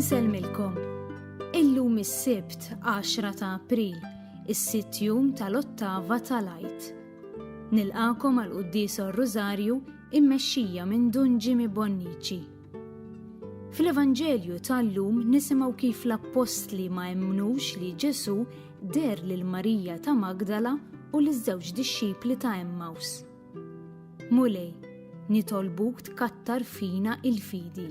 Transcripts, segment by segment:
Insellmilkom. Illum is-Sibt 10 ta' April, is-sitt jum tal-ottava tal-Għid. Nilqakom għal Quddis Rosario immexxija minn Dun Jimmy Bonnici. Fl-Evanġelju tal-lum nisimgħu kif l-appostli ma emmnux li Ġesu der lil Marija ta' Magdala u l żewġ dixxipli ta' Emmaus. Mulej, nitolbuk tkattar fina il-fidi.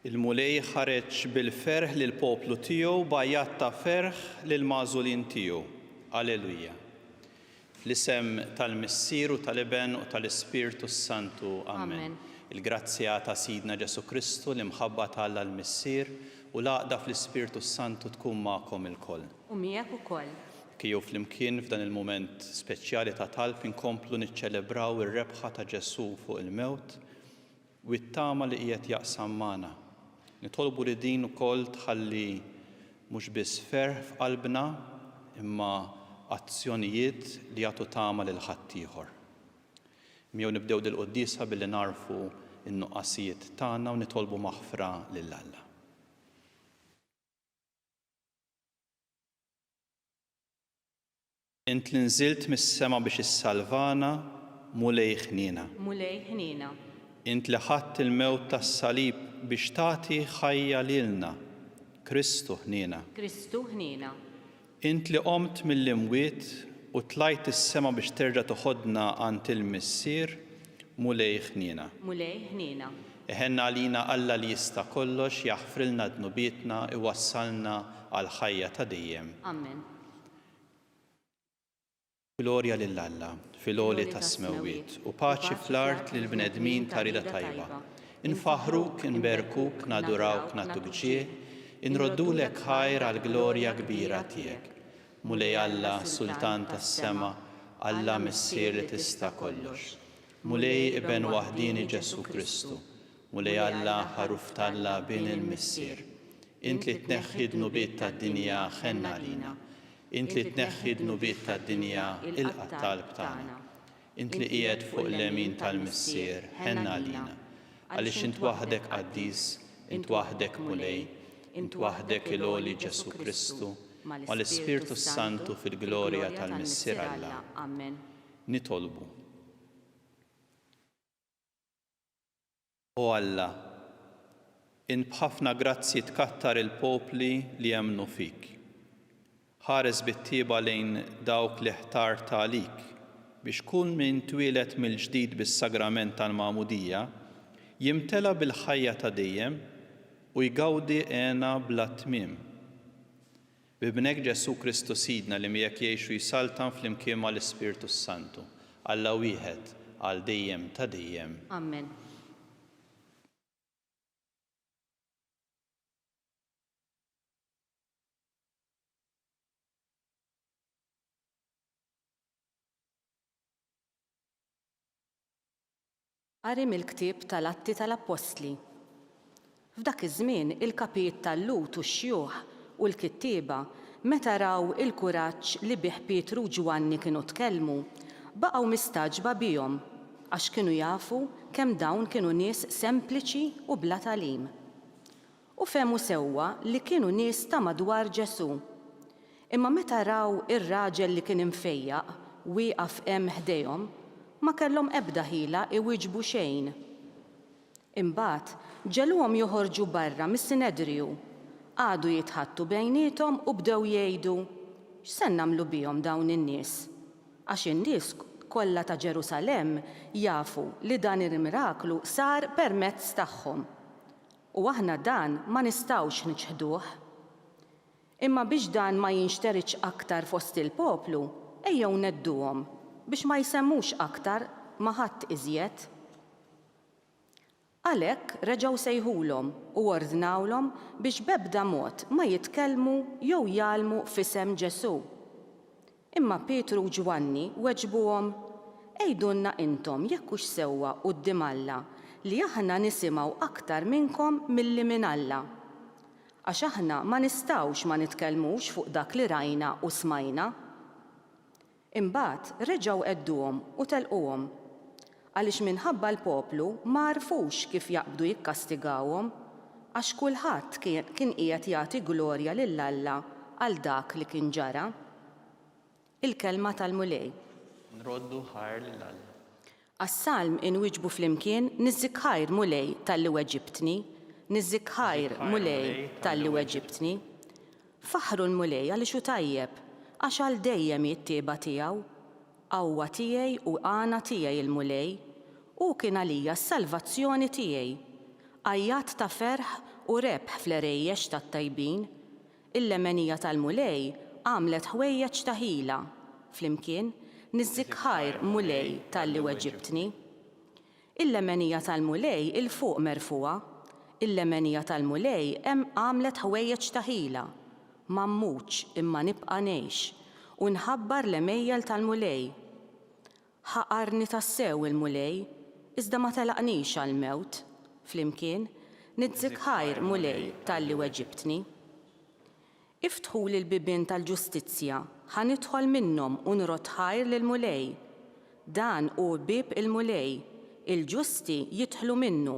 Il-Mulej ħareġ bil-ferħ lill-poplu tiegħu b'għajat ta' ferħ lill-magħżulin tiegħu. Alleluja. Fl-isem tal-Missier u tal-Iben u tal-Ispirtu s-Santu. Amen. Il-grazzja ta' Sidna Ġesù Kristu, l-imħabba ta' Alla l-Missier, u l-għaqda fl-Ispirtu s-Santu tkun magħkom ilkoll. U miegħek ukoll. Ejjew flimkien f'dan il-mument speċjali ta' talb inkomplu niċċelebraw ir-rebħa ta' Ġesù fuq il-mewt. u t-tama li qiegħed jaqsam magħna. Nitolbu li din ukoll tħalli mhux biss ferħ f'qalbna imma azzjonijiet li jagħtu tama lil ħaddieħor. Miegħu nibdew dil-quddiesa billi nagħrfu n-nuqqasijiet tagħna u nitolbu maħfra lil Alla. Int li nżilt mis-sema biex issalvana, Mulej ħniena. Mulej ħniena. Int li ħadt il-mewt tas-salib biex tagħti ħajja lilna, Kristu ħniena. Kristu ħniena. Int li qomt mill-imwiet u tlajt is-sema biex terġa' toħodna għand il-Missier, Mulej ħniena. Mulej ħniena. Iħenn għalina Alla li jista' kollox, jaħfrilna dnubietna, iwassalna għall-ħajja ta' dejjem. Amen. Glorja lil Alla fil-għoli tas-smewwiet u paċi fl-art lill-bnedmin ta' rieda tajba. Infaħħruk, inberkuk, nadurawk, nagħtuk ġieħ, inroddulek ħajr għall-glorja kbira tiegħek. Mulej Alla, Sultan tas-sema, Alla Missier li tista' kollox. Mulej Iben waħdieni Ġesù Kristu, Mulej Alla, Ħaruf t'Alla, Bin il-Missier, int li tneħħi d-dnubiet tad-dinja, ħenn għalina. Int li tneħħi d-dnubiet tad-dinja, ilqa' t-talb tagħna. Int li qiegħed fuq il-lemin tal-Missier, ħenn għalina. Għaliex int waħdek qaddis, int waħdek Mulej, int waħdek il-għoli Ġesù Kristu, mal-Ispirtu s-Santu fil-glorja tal-Missier Alla. Nitolbu. O Alla, int b'ħafna grazzji tkattar il-popli li jemmnu fik. Ħares bit-tjieba lejn dawk li ħtart għalik, biex kull min twieled mill-ġdid bis-sagrament tal-Magħmudija jimtela bil-ħajja ta' dejjem u jgawdi hena bla tmiem. B'Ibnek Ġesù Kristu Sidna li miegħek jgħix u jsaltan flimkien mal-Ispirtu s-Santu, Alla wieħed, għal dejjem ta' dejjem. Amen. Qari mill-ktieb tal-Atti tal-Appostli F'dak iż-żmien il-kapijiet tal-Lhud u x-xjuħ u l-kittieba, meta raw il-kuraġġ li bih Pietru u Ġwanni kienu tkellmu, baqgħu mistagħġba bihom, għax kienu jafu kemm dawn kienu nies sempliċi u bla tagħlim. U fehmu sewwa li kienu nies ta' madwar Ġesù. Imma meta raw ir-raġel li kien imfejjaq wieqaf hemm ħdejhom, ma kellhom ebda ħila iwieġbu xejn. Imbagħad, ġegħluhom joħorġu barra mis-Sinedriju, qagħdu jitħaddtu bejniethom u bdew jgħidu, X'se nagħmlu bihom dawn in-nies? Għax in-nies kollha ta' Ġerusalemm jafu li dan il-miraklu sar permezz tagħhom. U aħna dan ma nistgħux niċħduh. Imma biex dan ma jinxteridx aktar fost il-poplu, ejjew ngħedduhom biex ma jsemmux aktar ma' ħadd iżjed. Għalhekk reġgħu sejħulhom u ordnawlhom biex b'ebda mod ma jitkellmu jew jgħallmu f'isem Ġesù. Imma Pietru u Ġwanni weġbuhom, Għidulna intom jekk hux sewwa quddiem Alla li aħna nisimgħu aktar minnkom milli minn Alla. Għax aħna ma nistgħux ma nitkellmux fuq dak li rajna u smajna. Imbagħad reġgħu għedduhom u telquhom. Għaliex minħabba l-poplu ma għarfux kif jaqbdu jikkastigawhom, għax kulħadd kien qiegħed jagħti glorja lil Alla għal dak li kien ġara. Il-Kelma tal-Mulej. Nroddu ħajr lil Alla. Għas-Salm inwieġbu flimkien, Niżżik ħajr, Mulej, talli weġibtni. Niżżik ħajr, Mulej, talli weġibtni. Faħħru l-Mulej għaliex hu tajjeb, għax għal dejjem hi t-tjieba tiegħu. Qawwa tiegħi u għana tiegħi il-Mulej, hu kien għalija s-salvazzjoni tiegħi. Għajjat ta' ferħ u rebħ fl-għerejjex tat-tajbin. Il-lemenija tal-Mulej għamlet ħwejjeġ ta' ħila. Flimkien, Niżżik ħajr, Mulej, talli weġibtni. Il-lemenija tal-Mulej 'il fuq merfugħa, il-lemenija tal-Mulej hemm għamlet ħwejjeġ ta' ħila. Ma mmutx, imma nibqa' ngħix, u nħabbar l-għemejjel tal-Mulej. Ħaqarni tassew il-Mulej, iżda ma telaqnix għall-mewt. Flimkien, Nidzik ħajr, Mulej, talli weġibtni. Iftħuli l-bibien tal-ġustizzja, ħa nidħol minnhom u nrodd ħajr lill-Mulej. Dan hu bieb il-Mulej, il-ġusti jidħlu minnu.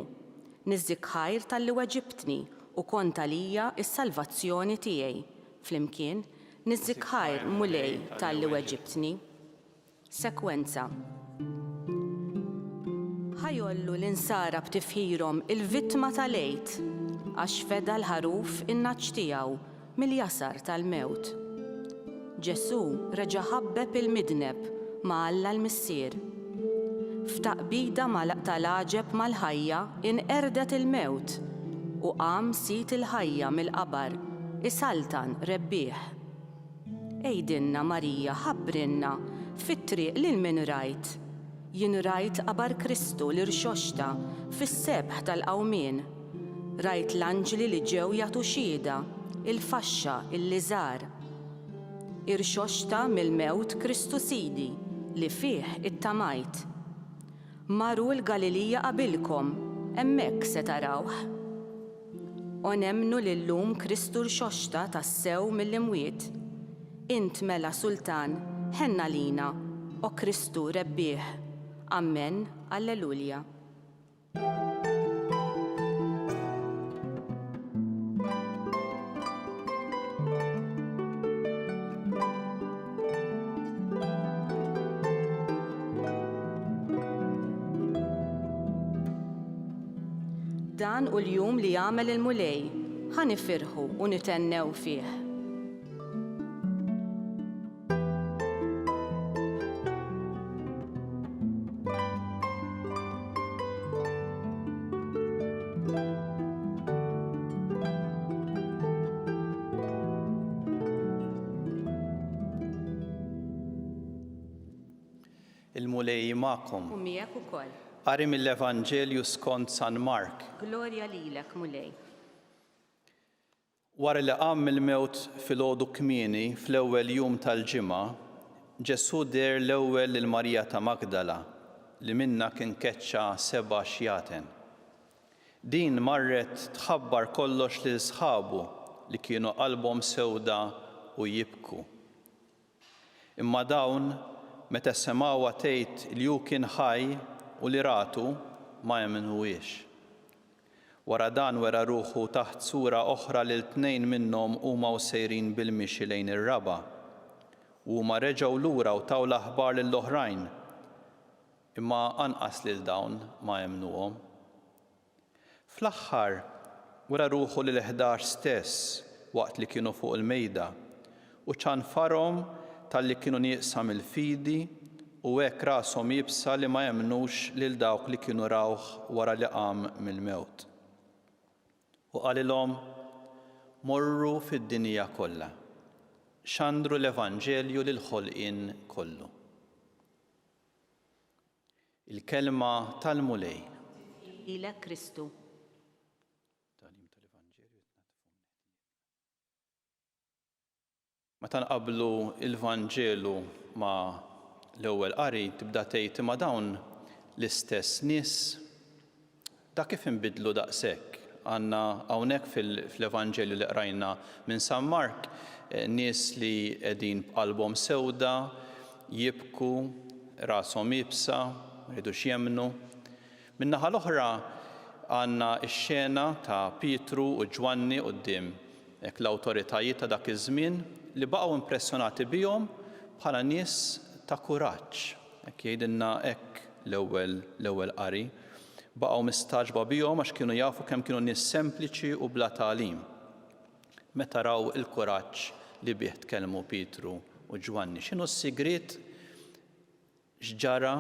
Niżżik ħajr talli weġibtni u kont għalija s-salvazzjoni tiegħi. Flimkien, Niżżik ħajr, Mulej, talli weġibtni. Sekwenza Ħa jgħollu l-insara b'tifħirhom il-vittma tal-Għid, għax feda l-ħaruf in-nagħaġ tiegħu mill-jasar tal-mewt. Ġesù reġa' ħabbeb il-midneb ma' Alla l-Missier. F'taqbida tal-għaġeb mal-ħajja inqerdet il-mewt u qam Sid il-ħajja mill-qabar isaltan rebbieħ. Għidilna, Marija, ħabbrilna, fit-triq lil min rajt? Jien rajt qabar Kristu, l-Irxoxta, fis-sebħ tal-qawmien. Rajt l-anġli li ġew jagħtu xhieda, il-faxxa, il-liżar. Irxoxta mill-mewt Kristu Sidi, li fih ittamajt. Marru l-Galilija qabilkom, hemmhekk se tarawh. O nemmnu li llum Kristu rxoxta tassew mill-imwiet. Int mela Sultan, ħenn għalina, O Kristu, Rebbieħ. Ammen, Alleluja. Dan u l-jum li għamel il-Mulej, ħan ifirħu u nitennew fih. Il-Mulej magħkom. U miegħek ukoll. Qari mill-Evanġelju skont San Mark. Glorja lilek, Mulej. Wara li qam mill-mewt filgħodu kmieni fl-ewwel jum tal-ġimgħa, Ġesù deher l-ewwel lil Marija ta' Magdala, li minnha kien keċċa seba' xjaten. Din marret tħabbar kollox lil sħabu li kienu qalbhom sewda u jibku. Imma dawn, meta semgħuha tgħid li hu kien ħaj u li ratu, ma emmnuhiex. Wara dan wera ruħu taħt sura oħra lil tnejn minnhom huma u sejrin bil-mixi lejn ir-raba'. U huma reġgħu lura u taw l-aħbar lill-oħrajn, imma anqas lil dawn ma emmnuhom. Fl-aħħar, wera ruħu lill-ħdax stess waqt li kienu fuq il-mejda u ċanfarhom talli kienu nieqsa mill-fidi u hekk rashom iebsa li ma emmnux lil dawk li kienu rawh wara li qam mill-mewt. U qalilhom, Morru fid-dinja kollha. Xandru l-evanġelju lill-ħolqien kollu. Il-Kelma tal-Mulej. Tifħir lilek Kristu. Tagħlim tal-Evanġelju Meta nqabblu l-Vanġelu ma' l-ewwel qari tibda tgħid imma dawn l-istess nies Ta' kif inbidlu daqshekk! Għandna hawnhekk fl-Evanġelju li qrajna minn San Mark nies li qegħdin b'qalbhom sewda, jibku, rashom iebsa, ma jridux jemmnu. Min-naħa l-oħra għandna x-xena ta' Pietru u Ġwanni quddiem hekk l-awtoritajiet ta' dak iż-żmien li baqgħu impressjonati bihom bħala nies ta' kuraġġ. Hekk jgħidilna hekk l-ewwel l-ewwel qari. Baqgħu mistagħġba bihom għax kienu jafu kemm kienu nies sempliċi u bla tagħlim. Meta raw il-kuraġġ li bih tkellmu Pietru u Ġwanni, x'inhu s-sigriet x'ġara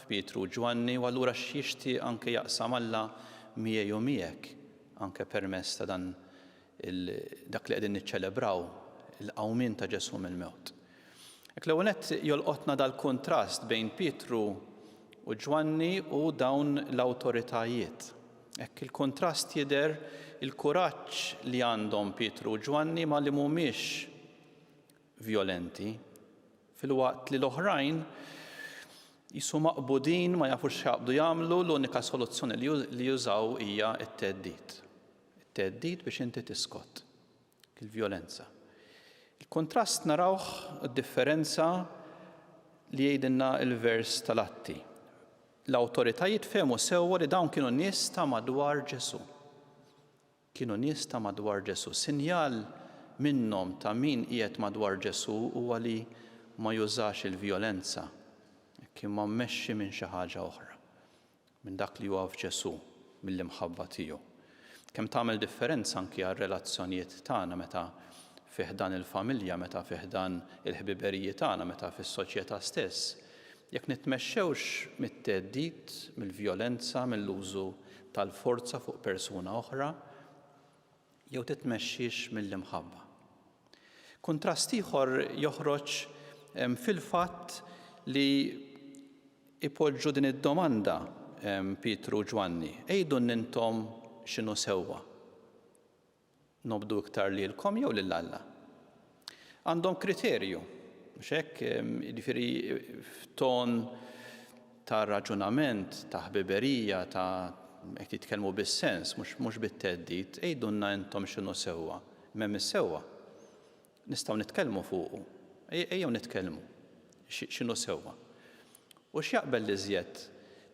f'Pietru u Ġwanni u allura x'jixtieq anke jaqsam Alla miegħi u miegħek anke permezz ta' dan il dak li qegħdin niċċelebraw, il-qawmien ta' Ġesù mill-mewt. Hekk l-ewwel nett jolqotna dal-kuntrast bejn Pietru u Ġwanni u dawn l-awtoritajiet. Hekk il-kuntrast jidher il-kuraġġ li għandhom Pietru u Ġwanni ma' li mhumiex vjolenti, filwaqt li l-oħrajn qisu maqbudin ma jafux x'jaqbdu jagħmlu, l-unika soluzzjoni li jużaw hija t-theddid. It-theddid biex inti tiskot. Il-vjolenza. Il-kuntrast narawh d-differenza li jgħidilna l-vers tal-Atti. L-awtoritajiet fehmu sewwa li dawn kienu nies ta' madwar Ġesù. Kienu nies ta' madwar Ġesù. Sinjal minnhom ta' min qiegħed madwar Ġesù huwa li ma jużax il-vjolenza, hekk imma mmexxi minn xi ħaġa oħra. minn dak li huwa f'Ġesù, mill-imħabba tiegħu. Kemm tagħmel differenza anki għar-relazzjonijiet tagħna meta fi ħdan il-familja, meta fi ħdan il-ħbiberiji tagħna, meta fis-soċjetà stess, jekk nitmexxewx mit-theddid, mill-vjolenza, mill-użu tal-forza fuq persuna oħra, jew titmexxix mill-imħabba. Kuntrast ieħor joħroġ fil-fatt li jpoġġu din id-domanda Pietru u Ġwanni, Għidulna intom x'inhu sewwa, nobdu iktar lilkom jew lil Alla? Għandhom kriterju, mhux hekk? Jiġifieri f'ton ta' raġunament, ta' ħbiberija, ta' qed jitkellmu bis-sens, mhux mhux bit-theddid, għidulna intom x'inhu sewwa. M'hemm is-sewwa. Nistgħu nitkellmu fuqu. Ejjew nitkellmu. X'inhu sewwa? U x'jaqbel l-iżjed?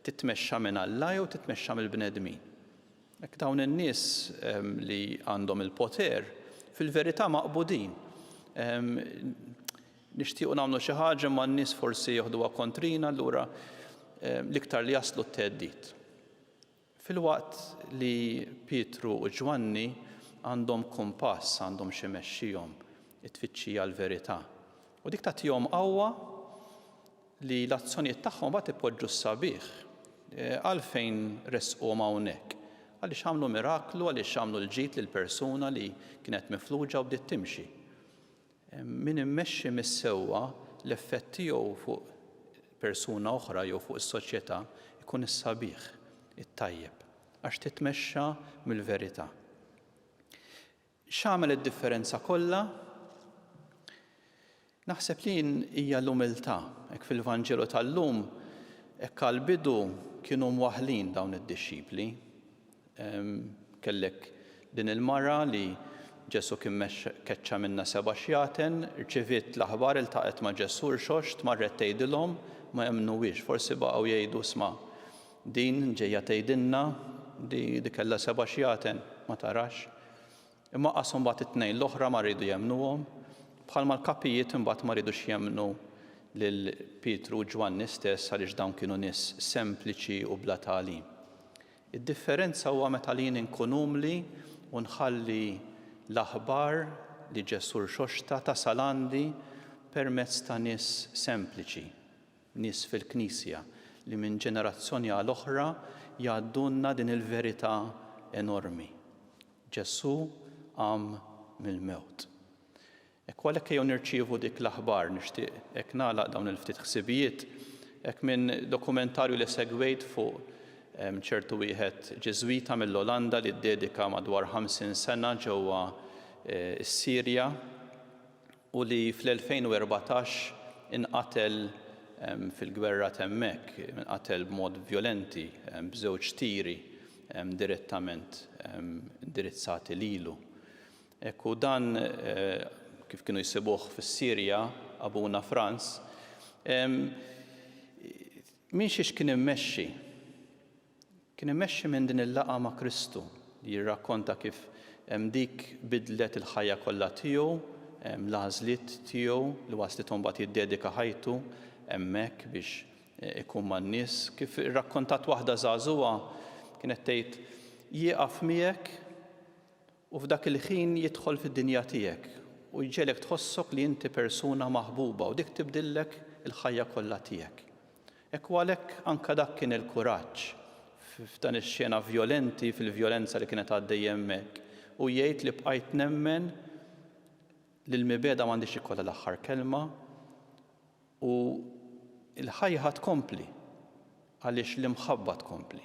Titmexxa minn Alla jew titmexxa mill-bnedmin? Hekk dawn in-nies li għandhom il-poter fil-verità maqbudin. Nixtiequ nagħmlu xi ħaġa ma n-nies forsi joħduha kontrina allura l-iktar li jaslu t-theddid. Filwaqt li Pietru u Ġwanni għandhom kumpass, għandhom xi mexxihom, it-tfittxija l-verità. U dik tagħtihom qawwa li l-azzjonijiet tagħhom imbagħad ipoġġu s-sabiħ. Għalfejn ressquhom hawnhekk? Għaliex għamlu miraklu, għaliex għamlu l-ġid lil persuna li kienet mifluġa u bdiet timxi. Min immexxi mis-sewwa, l-effett tiegħu fuq persuna oħra jew fuq is-soċjetà jkun is-sabiħ, it-tajjeb, għax titmexxa mill-verità. X'għamel id-differenza kollha? Naħseb li din hija l-umiltà. Hekk fil-Vanġelu tal-lum, hekk għall-bidu kienu mwaħħlin dawn id-dixxipli. Kellek din il-mara li Ġesù kien keċċa minnha seba' xjaten, rċiviet l-aħbar, iltaqgħet ma' Ġesù, rxoxt, marret tgħidilhom, ma emmnuwiex, forsi baqgħu jgħidu, 'Sma', Din ġejja tgħidilna li li kellha seba' xjaten ma tarax. Imma qas imbagħad it-tnejn l-oħra ma riedu jemmnuhom, bħalma l-kapijiet imbagħad ma riedux jemmnu lil Pietru u Ġwanni stess għaliex dawn kienu nies sempliċi u bla tagħlim. Id-differenza huwa meta jien inkun umli u nħalli l-aħbar li Ġesù rxoxta tasal għandi permezz ta' nies sempliċi, nies fil-Knisja li minn ġenerazzjoni għal oħra jgħaddulna din il-verità enormi, Ġesù qam mill-mewt. Hekk u għalhekk ejjew nirċievu dik l-aħbar, nixtieq hekk nagħlaq dawn il-ftit ħsibijiet, hekk minn dokumentarju li segwejt fuq ċertu wieħed Ġiżwita mill-Olanda li ddedika madwar 50 sena ġewwa s-Sirja, u li fl-2014 inqatel fil-gwerra t'hemmhekk, inqatel b'mod vjolenti b'żewġ tiri direttament indirizzati lilu. Hekk hu dan kif kienu jsibuh fis-Sirja abuna Franz. Minn xiex kien immexxi? Kien immexxi minn din il-laqgħa ma' Kristu, li jirrakkonta kif dik biddlet il-ħajja kollha tiegħu, l-għażliet tiegħu li waslitu mbagħad jiddedika ħajtu hemmhekk biex ikun man-nies. Kif irrakkontat waħda żagħżugħa, kienet tgħid, Jieqaf miegħek U f'dak il-ħin jidħol fid-dinja tiegħek u jġegħlek tħossok li inti persuna maħbuba u dik tibdillek il-ħajja kollha tiegħek. Ekku għalhekk anke dak kien il-kuraġġ f'dan ix-xena vjolenti fil-vjolenza li kienet għaddejja hemmhekk u jgħid li bqajt nemmen li l-mibegħda m'għandhiex ikollha l-aħħar kelma U l-ħajja tkompli, għaliex l-imħabba tkompli.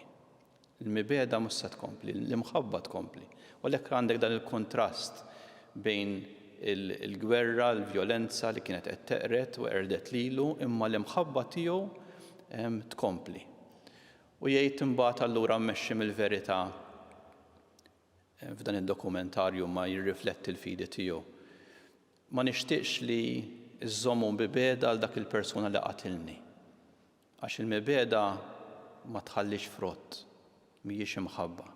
Il-mibegħda mhux se tkompli, l-imħabba tkompli. U għalhekk għandek dan il-kuntrast bejn il-gwerra, il-vjolenza li kienet qed teqred u qerdet lilu, imma l-imħabba tiegħu tkompli. U jgħid imbagħad allura mmexxi mill-verità f'dan id-dokumentarju ma jirrifletti l-fidi tiegħu. Ma nixtieqx li żżommu mibegħda għal dak il-persuna li qatilni. Għax il-mibegħda ma tħallix frott, mhijiex imħabba.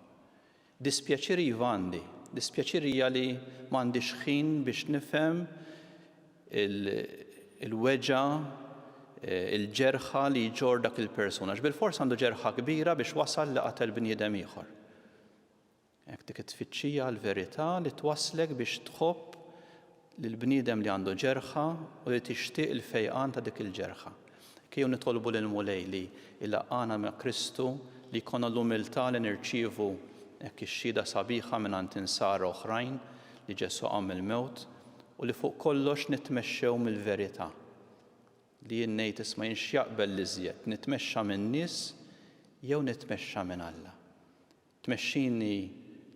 Dispjaċir iva għandi. Dispjaċir hija li ma għandix ħin biex nifhem il-weġgħa, il-ġerħa li jġorr dak il-persuna. Għax bilfors għandu ġerħa kbira biex wasal li qatel bniedem ieħor. Hekk dik it-tfittxija għall-verità li twasslek biex tħobb lill-bniedem li għandu ġerħa u li tixtieq il-fejqan ta' dik il-ġerħa. Hekk ejjew nitolbu lill-Mulej li jlaqqagħna ma' Kristu, li jkollna l-umiltà li nirċievu hekk ix-xhieda sabiħa mingħand insara oħrajn li Ġesù qam mill-mewt u li fuq kollox nitmexxew mill-verità. Li jien ngħid, isma' jien x'jaqbel l-iżjed, nitmexxa min-nies jew nitmexxa minn Alla? Tmexxini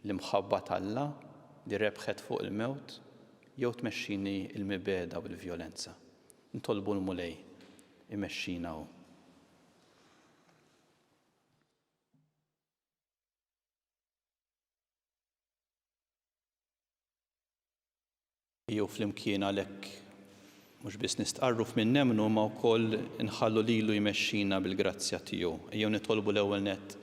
l-imħabba t'Alla li rebħet fuq il-mewt jew tmexxini l-mibegħda u l-vjolenza? Nitolbu l-Mulej imexxina hu. jew flimkien għalhekk mhux biss nistqarru f'min nemmnu imma wkoll inħallu lilu jmexxina bil-grazzja tiegħu. Ejjew nitolbu l-ewwel nett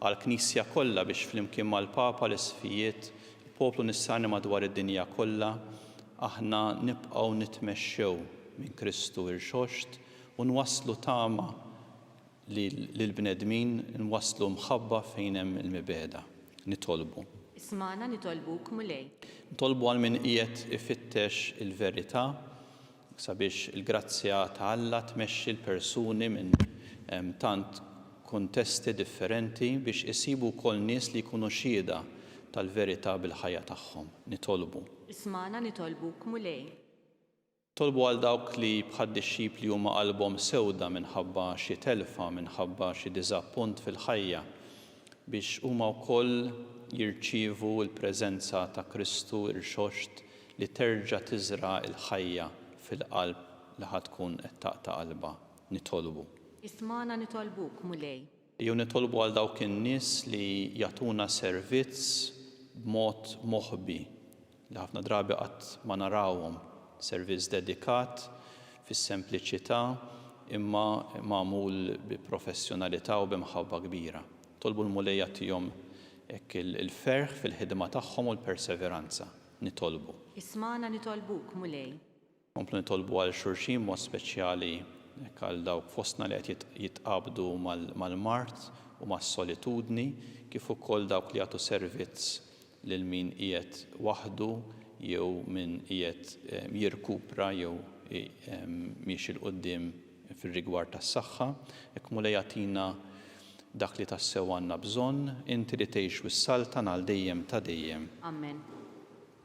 għall-Knisja kollha biex flimkien mal-Papa, l-Isqfijiet, il-poplu nisrani madwar id-dinja kollha, aħna nibqgħu nitmexxew minn Kristu Irxoxt u nwasslu tama li lill-bnedmin nwasslu mħabba fejn hemm il-mibegħda. Nitolbu. Ismagħna nitolbuk, Mulej. Nitolbu għal min qiegħed ifittex il-verità, sabiex il-grazzja ta' Alla tmexxi l-persuni minn tant kuntesti differenti biex isibu wkoll nies li jkunu xhieda tal-verità bil-ħajja tagħhom. Nitolbu. Ismagħna nitolbuk, Mulej. Tolbu għal dawk li bħad-dixxipli huma qalbhom sewda minħabba xi telfa, minħabba xi diżappunt fil-ħajja, biex huma wkoll jirċievu l-preżenza ta' Kristu rxoxt li terġa' tiżra' l-ħajja fil-qalb li ħa tkun qed taqta' qalbha. Nitolbu. Ismagħna nitolbuk, Mulej. Jew nitolbu għal dawk in-nies li jagħtuna servizz b'mod moħbi, li ħafna drabi qatt ma narawhom, servizz dedikat fis-sempliċità imma magħmul bi professjonalità u bi mħabba kbira. Nitolbu l-Mulej jagħtihom hekk il-ferħ fil-ħidma tagħhom u l-perseveranza. Nitolbu. Ismagħna nitolbuk, Mulej. Nkomplu nitolbu għal xulxin b'mod speċjali hekk għal dawk fostna li qed jitqabdu mal-mard u mas-solitudni kif ukoll dawk li jagħtu servizz lil min qiegħed waħdu jew min qiegħed jirkupra jew miexi 'l quddiem fir-rigward tas-saħħa. Hekk Mulej agħtina dak li tassew għandna bżonn, Inti li tgħix u ssaltan għal dejjem ta' dejjem. Amen.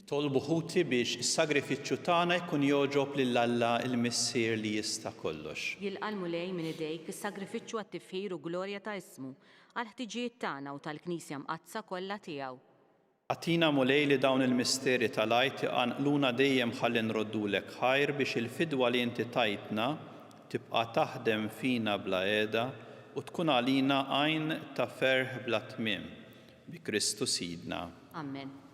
Itolbu ħuti biex is-sagrifiċċju tagħna jkun jogħġob lil Alla l-Missier li jista' kollox. Jilqa' l-Mulej minn idejk is-sagrifiċċju għat-tifħir u glorja ta' ismu, għall-ħtiġijiet tagħna u tal-Knisja Mqaddsa kollha tiegħu. Agħtina, Mulej, li dawn il-misteri tal-Għid iqanqluna dejjem ħalli nroddulek ħajr biex il-fidwa li inti tajtna tibqa' taħdem fina bla qiegħda u tkun għalina għajn ta' ferħ bla tmiem. Bi Kristu Sidna. Amen.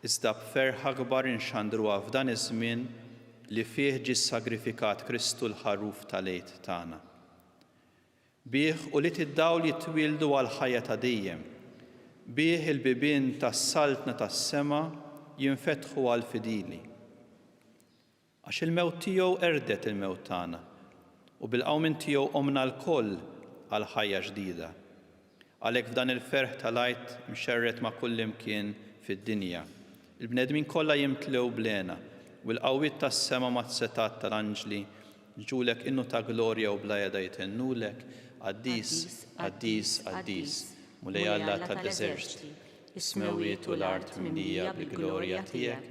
Iżda b'ferħ akbar inxandruha f'dan iż-żmien li fih ġie ssagrifikat Kristu l-Ħaruf tal-Għid tagħna. Bih ulied id-dawl jitwieldu għall-ħajja ta' dejjem, bih il-bibien tas-Saltna tas-sema jinfetħu għall-fidili. Għax il-mewt tiegħu qerdet il-mewt tagħna, u bil-qawmien tiegħu qomna lkoll għal ħajja ġdida. Għalhekk f'dan il-ferħ tal-Għid mxerred ma' kullimkien fid-dinja, il-bnedmin kollha jimtlew bl-hena, u l-qawwiet tas-sema mas-setgħat tal-anġli jġulek innu ta' glorja u bla heda jtennulek, Qaddis, qaddis, qaddis, Mulej Alla tal-eżerċti, is-smewwiet u l-art mimlija bil-glorja tiegħek.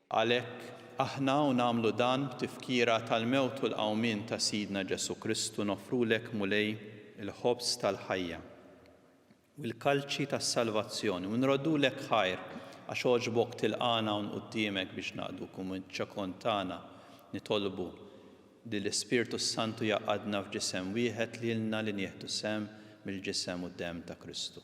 Għalhekk, aħna u nagħmlu dan b'tifkira tal-mewt u l-qawmien ta' Sidna Ġesù Kristu noffrulek, Mulej, il-ħobż tal-ħajja u l-kalċi tas-salvazzjoni u nroddulek ħajr għax għoġbok tilqagħna hawn quddiemek biex naqduk u miċ-ċokon tagħna nitolbu li l-Ispirtu s-Santu jgħaqqadna f'ġisem wieħed lilna li nieħdu sehem mill-ġisem u d-demm ta' Kristu.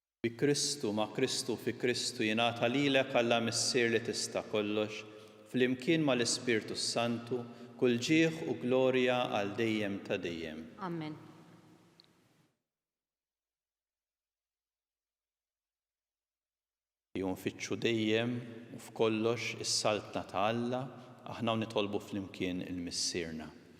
Bi Kristu, ma' Kristu u fi Kristu jingħata lilek Alla Missier li tista' kollox, flimkien mal-Ispirtu s-Santu, kull ġieħ u glorja għal dejjem ta' dejjem. Amen. Ejjew nfittxu dejjem u f'kollox is-Saltna ta' Alla, aħna u nitolbu flimkien il-Missierna.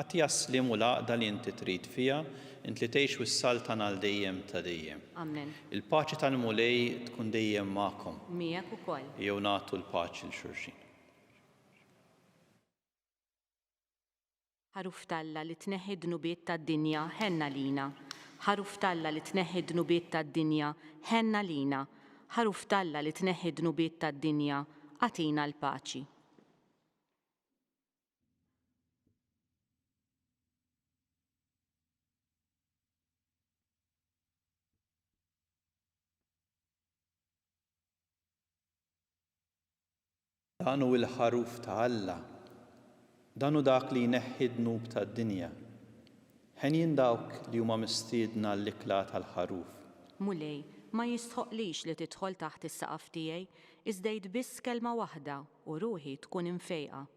Atti għas-sliem u l-għaqda li inti trid fiha, int li tgħix u ssaltan għal dejjem ta' dejjem. Amen. Il-paċi tal-Mulej tkun dejjem magħkom. Miegħek ukoll. Ejjew nagħtu l-paċi 'l xulxin. Ħaruf t'Alla li tneħħi d-dnubiet tad-dinja, ħenn għalina. Ħaruf t'Alla li tneħħi d-dnubiet tad-dinja, ħenn għalina. Ħaruf t'Alla li tneħħi d-dnubiet tad-dinja, agħtina l-paċi. Dan hu l-Ħaruf ta' Alla. Dan hu dak li jneħħi d-dnub tad-dinja. Henjin dawk li huma mistiedna għall-ikla tal-Ħaruf. Mulej, ma jistħoqqlix li tidħol taħt is-saqaf tiegħi, iżda għid biss kelma waħda u ruħi tkun imfejqa.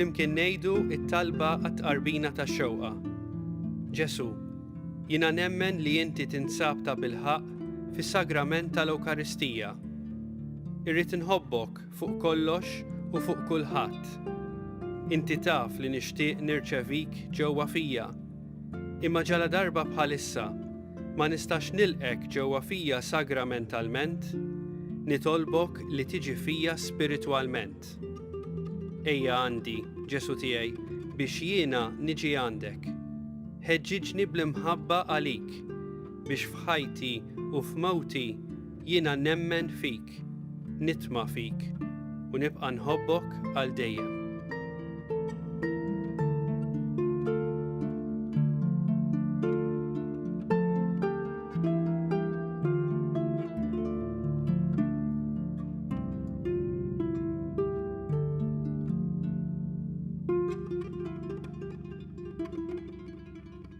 flimkien ngħidu it-talba għat-tqarbina tax-xewqa. Ġesu, jiena nemmen li inti tinsab ta' bilħaq fis-Sagrament tal-Ewkaristija. Irrid inħobbok fuq kollox u fuq kulħadd. Inti taf li nixtieq nirċevik ġewwa fija, imma ġaladarba bħalissa ma nistax nilqgħek ġewwa fija sagramentalment, nitolbok li tiġi fija spiritwalment. Ejja għandi, Ġesù tiegħi, biex jiena niġi għandek. Ħeġġiġni bl-imħabba għalik. biex f'ħajti u f'mewti jiena nemmen fik, nitma' fik u nibqa' nħobbok għal dejjem.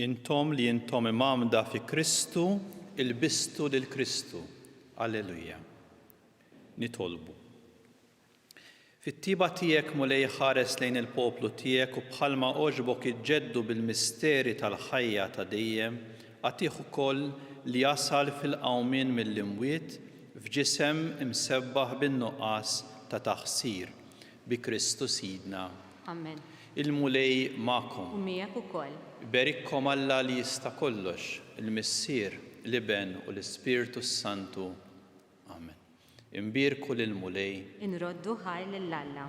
Intom li intom imamda fi Kristu, il-bistu lil Kristu. Alleluja. Nitolbu. Fit-tiba tiegħek mulej ħares lejn il-poplu tiegħek u bħalma oġbok iġġeddu bil-misteri tal-ħajja ta' dejjem, għatih ukoll li jasal fil-qawmien mill-imwiet F'ġisem imsebbaħ bin-nuqqas ta' taqsir, bi Kristu Sidna. Amen. Il-Mulej magħkom. U miegħek ukoll. Iberikkom Alla li jista' kollox, il-Missier, l-Iben u l-Ispirtu s-Santu. Amen. Inbierku lill-Mulej. Inroddu ħajr lil Alla.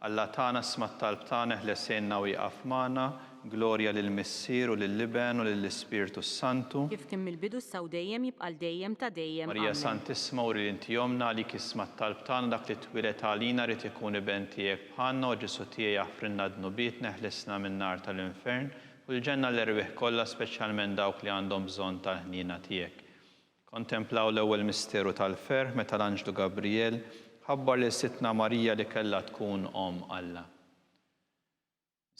Alla tagħna isma' t-talb tagħna eħles għinna u iqaf magħna, glorja lill-Missier u lill-Iben u lill-Ispirtu s-Santu. Kif kien mill-bidu issa u dejjem jibqa' l dejjem ta' dejjem. Amen. Marija Santissima uri li inti ommna għalik jisma' t-talb tagħna dak li twieled għalina jrid ikun iben tiegħek bħalna o Ġesù tiegħi aħfrilna dnubietna eħlisna min-nar tal-infern u l-ġenna għall-erwieħ kollha speċjalment dawk li għandhom bżonn tal-ħniena tiegħek. Kontemplaw l-ewwel misteru tal-ferħ meta l-anġlu Gabrijel ħabbar lil Sidtna Marija li kellha tkun Omm Alla.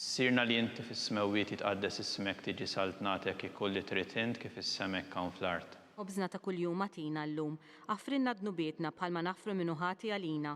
Missierna li inti fis-smewwiet jitqaddes ismek tiġi saltnatek ikun li trid int kif is-sema hekk hawn fl-art. Ħobżna ta' kuljum agħtina llum. Aħfrilna dnubietna bħalma naħfru min hu ħati għalina,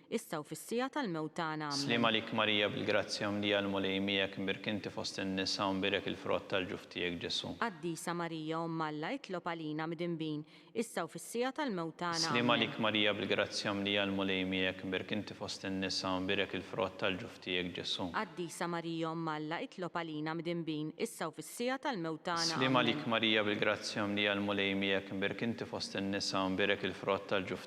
issa u fis-siegħa tal-mewt tagħna. Sliem għalik Marija bil-grazzja mlija l-Mulej miegħek imbierk inti fost in-nisa u mbierek il-frott tal-ġuf tiegħek Ġesu'. Qaddisa Marija Omm Alla itlob għalina midinbin issa u fis-siegħa tal-mewt tagħna. Sliem Ammen. għalik Marija bil-grazzja mlija l-Mulej miegħek imbierk inti fost in-nisa u mbierek il-frott tal-ġuf tiegħek Ġesu'. Qaddisa Marija Omm Alla itlob għalina midinbin issa u fis-siegħa tal-mewt tagħna. Sliem Ammen. għalik Marija bil-grazzja mlija l-Mulej miegħek imbierk inti fost in-nisa u mbierek il-frott tal-ġuf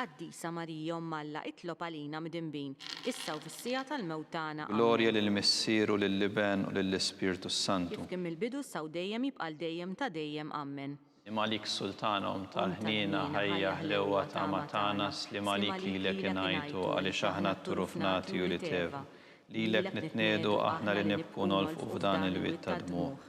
Qaddisa Marija Omm Alla itlob għalina midinbin, issa u fis-siegħa tal-mewt tagħna. Glorja lill-Missier u lill-Iben u lill-Ispirtu s-Santu. Kif kien mill-bidu, issa u dejjem, jibqa' għal dejjem ta' dejjem. Ammen. Sliem għalik Sultana, Omm tal-ħniena, ħajja, ħlewwa, tama tagħna, sliem għalik lilek ingħajtu għaliex aħna t-turuf nagħti u li tev. Lilek nitniegħdu aħna li nibku u nolfqu f'dan il-wied tad-dmugħ.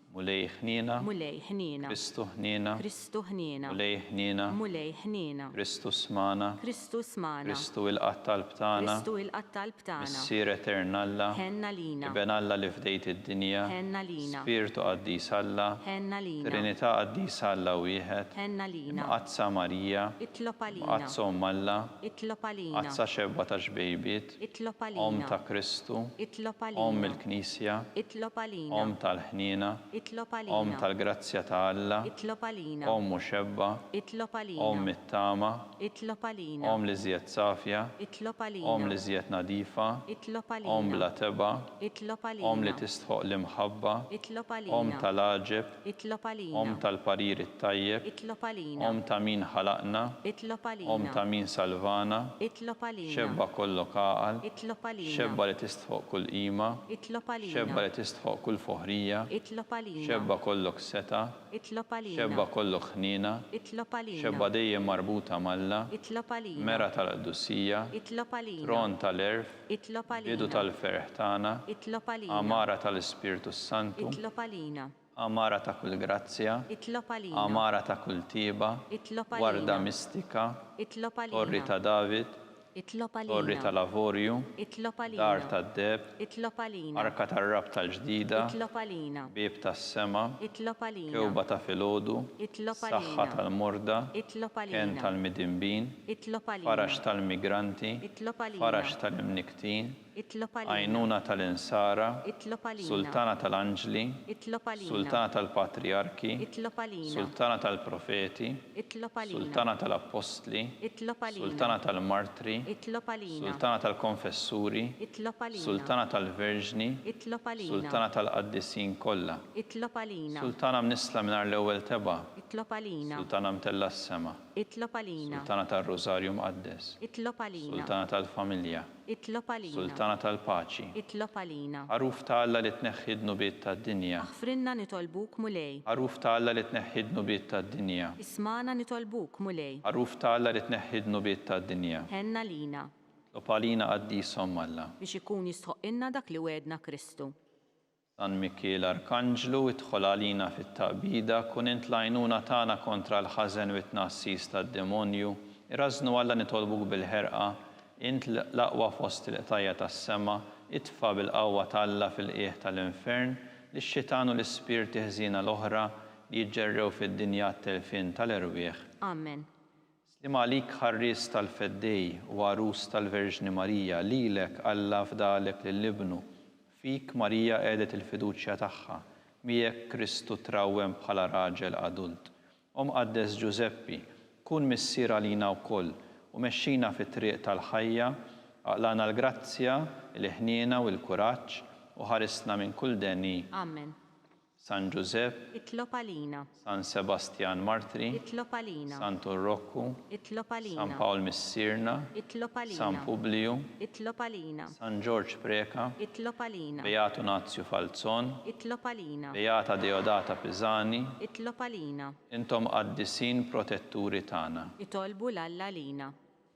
Mulej ħniena. Mulej ħniena. Kristu ħniena. Kristu ħniena. Mulej ħniena. Mulej ħniena. Kristu smana. Kristu smana. Kristu ilqa' t-talb tagħna. Kristu ilqa' t-talb tagħna. Missier Etern Alla. Ħenn għalina. Iben Alla li fdejt id-dinja. Ħenn għalina. Spirtu Qaddis Alla. Ħenn għalina. Trinità Qaddisa Alla Wieħed. Ħenn għalina. Imqaddsa Marija. Itlob għalina. Imqaddsa Omm Alla. Itlob għalina. Imqaddsa Xebgħa tax-xbejbiet. Itlob għalina. Omm ta' Kristu. Itlob għalina. Omm il-Knisja. Itlob għalina. Omm tal-ħniena. Itlob għalina. Omm tal-grazzja ta' Alla. Itlob għalina. Omm muxebba. Itlob għalina. Omm mit-tama. Itlob għalina. Omm l-iżjed safja. Itlob għalina. Omm l-iżjed nadifa. Itlob għalina. Omm bla tebgħa. Itlob għalina. Omm li tistħoqq l-imħabba. Itlob għalina. Omm tal-għaġeb. Itlob għalina. Omm tal-parir it-tajjeb. Itlob għalina. Omm ta' min ħalaqna. Itlob għalina. Omm ta' min salvana. Itlob għalina. Xebba kollok għaqal. Itlob għalina. Xebba li tistħoq kull qima. Itlob għalina. Xebba li tistħoq kull foħrija. Itlob għalina. Xebba kollok setgħa. Itlob għalina. Xebba kollok ħniena. Itlob għalina. Xebba dejjem marbuta m'Alla. Itlob għalina. Mergħa tal-qdussija. Itlob għalina. Tron tal-għerf. bidu tal-ferħ tagħna, għamara tal-Ispirtu s-Santu, għamara ta' kull grazzja, għamara ta' kull tjieba, warda mistika, Torri ta' David, Torri tal-Avorju, Dar tad-Deheb, Arka tar-Rabta l-Ġdida, Bieb tas-Sema, Kewba ta' filgħodu, Saħħa tal-morda, Kenn tal-midinbin, faraġ tal-migranti, faraġ tal-imnikktin, għajnuna tal-insara, sultana tal-anġli, sultana tal-patrijarki, sultana tal-profeti, sultana tal-appostli, sultana tal-martri, sultana tal-konfessuri, sultana tal-verġni, sultana tal-qaddisin kollha, sultana mnissla mingħajr l-ewwel tebgħa, sultana mtellgħa s-sema. Itlob għalina. Sultana tar-Rużarju Mqaddes. Itlob għalina. Sultana tal-Familja. Itlob għalina. Sultana tal-Paċi. Itlob għalina. Għaruf ta' Alla li tneħħi d-dnubiet tad-dinja. Aħfrilna nitolbuk, Mulej. Għaruf ta' Alla li tneħħi d-dnubiet tad-dinja. Ismagħna nitolbuk, Mulej. Għaruf ta' Alla li tneħħi d-dnubiet tad-dinja. Ħenn għalina. Itlob għalina Qaddisa Omm Alla. Biex ikun jistħoqqilna dak li wegħedna Kristu. San Mikiel Arkanġlu, idħol għalina fit-taqbida, kun int l-għajnuna tagħna kontra l-ħażen u t-tnagħsis tad-demonju. Irażżnu Alla nitolbuk bil-ħerqa, int l-aqwa fost il-qtajja' tas-sema, itfa' bil-qawwa t'Alla fil-qiegħ tal-infern lix-xitan u l-ispirti ħżiena l-oħra li jiġġerrew fid-dinja għat-telfien tal-erwieħ. Amen. Sliem għalik Ħarries tal-Feddej u Għarus tal-Verġni Marija, lilek Alla fdalek lil Ibnu, fik Marija qegħdet il-fiduċja tagħha, miegħek Kristu trawwem bħala raġel adult. O Mqaddes Ġużeppi, kun missier għalina wkoll u mexxina fit-triq tal-ħajja, aqlagħna l-grazzja, il-ħniena u l-kuraġġ u ħarisna minn kull deni. Amen. San Ġużepp. Itlob għalina. San Sebastjan Martri. Itlob għalina. Santun Rokku. Itlob għalina. San Pawl Missierna. Itlob għalina. San Publiju. Itlob għalina. San Ġorġ Preca. Itlob għalina. Beatu Nazju Falzon. Itlob għalina. Beata Deodata Pisani. Itlob għalina. Intom qaddisin protetturi tagħna. Itolbu 'l Alla għalina.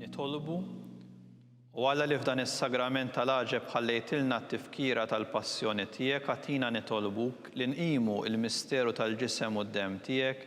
Nitolbu u għala li f'dan is-sagrament tal-għaġeb ħallejtilna t-tifkira tal-passjoni tiegħek agħtina nitolbuk li nqimu l-misteru tal-ġisem u d-demm tiegħek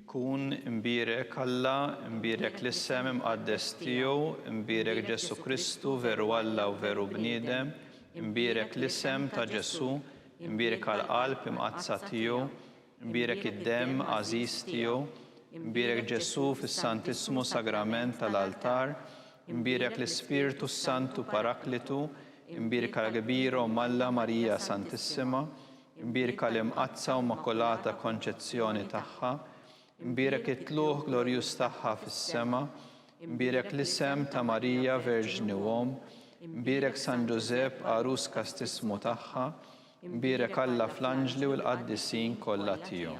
Kun imbierek Alla, imbierek l-isem imqaddes tiegħu, imbierek Ġesù Kristu, veru Alla u veru bniedem, imbierek l-isem ta' Ġesù, imbierka l-qalb imqaddsa tiegħu, imbierek id-demm għażiż tiegħu, imbierek Ġesù fis-Santissmu Sagrament tal-altar, imbierek l-Ispirtu s-Santu Paraklitu, imbierka l-kbir Omm Alla Marija Santissima, Imbierka l-Imqaddsa u Immakulata Konċezzjoni tagħha, imbierek it-tlugħ glorjuż tagħha fis-sema, imbierek l-isem ta' Marija Verġni u Omm, imbierek San Ġużepp għarus kastismu tagħha, imbierek Alla fl-anġli u l-qaddisin kollha tiegħu.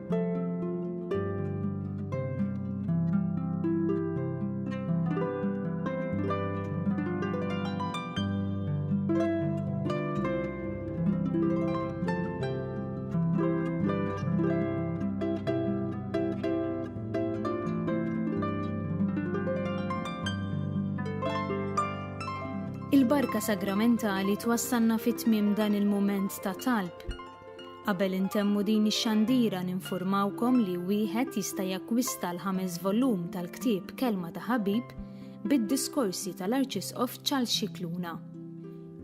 Il-barka sagramentali twassalna fit-tmiem dan il-mument ta' talb. Qabel intemmu din ix-xandira ninfurmawkom li wieħed jista' jakkwista l-ħames volum tal-ktieb Kelma ta' Ħabib bid-diskorsi tal-Arċisqof Charles Scicluna.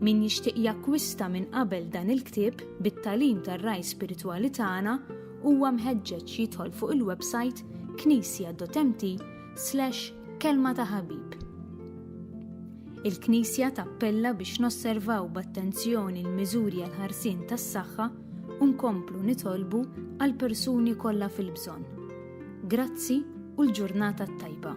Min jixtieq jakkwista minn qabel dan il-ktieb bit-tagħlim tar-ragħaj spiritwali tagħna huwa mħeġġeġ jidħol fuq il-websajt knisja.mt slash kelma ta' ħabib. Il-Knisja tappella biex nosservaw b'attenzjoni l-miżuri għal ħarsien tas-saħħa u nkomplu nitolbu għal persuni kollha fil-bżonn. Grazzi u l-ġurnata tajba.